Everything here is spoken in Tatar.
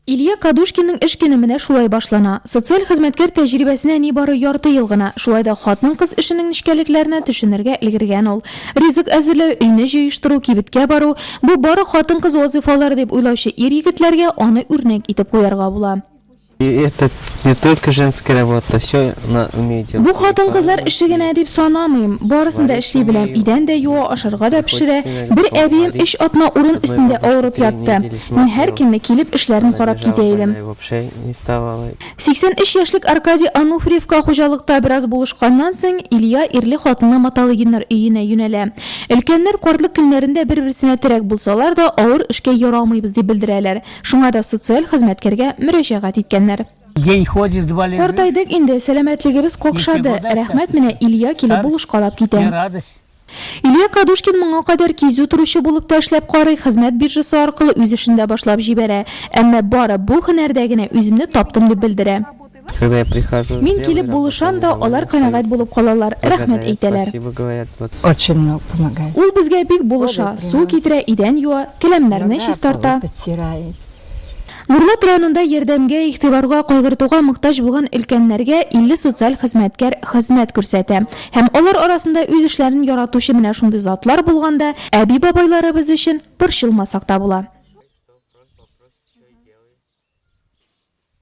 Илья Кадушкинның эш көне менә шулай башлана. Социаль хезмәткәр тәҗрибәсенә нибары ярты ел гына, шулай да хатын-кыз эшенең нечкәлекләренә төшенергә өлгергән ул. Ризык әзерләү, өйне җыештыру, кибеткә бару, бу бары хатын-кыз вазыйфалары дип уйлаучы ир-егетләргә аны үрнәк итеп куярга була. Этот не только женская работа, всё она умеет делать. Бу хатын-кызлар эше генә дип санамыйм, барысын да эшли беләм, идән дә юа, ашарга да пешерә. Бер әбием өч атна урын өстендә авырып ятты. Мин һәркемне килеп эшләрен карап китә идем. 83 яшьлек Аркадий Ануфриевка хуҗалыкта бераз булышканнан соң, Илья ирле хатынлы Маталыгиннар өенә юнәлә. Өлкәннәр картлык көннәрендә бер-берсенә терәк булсалар да, авыр эшкә ярамыйбыз дип белдерәләр. Шуңа да социаль хезмәткәргә мөрәҗәгать иткәннәр. Картайдык инде, сәламәтлегебез какшады, рәхмәт, менә Илья килеп булышкалап китә. Илья Кадушкин моңа кадәр кизү торучы булып та эшләп карый, хезмәт биржасы аркылы үз эшен дә башлап җибәрә. Әмма бары бу һөнәрдә генә үземне таптым дип белдерә. Мин килеп булышам да, алар канәгать булып калалар, рәхмәт әйтәләр. Ул безгә бик булыша, су китерә, идән юа, келәмнәрне чистарта. Нурлат районында ярдәмгә, игътибарга, кайгыртуга мохтаҗ булган өлкәннәргә 50 социаль хезмәткәр хезмәт күрсәтә. Һәм алар арасында үз эшләрен яратучы менә шундый затлар булганда, әби-бабайларыбыз өчен борчылмасак та була.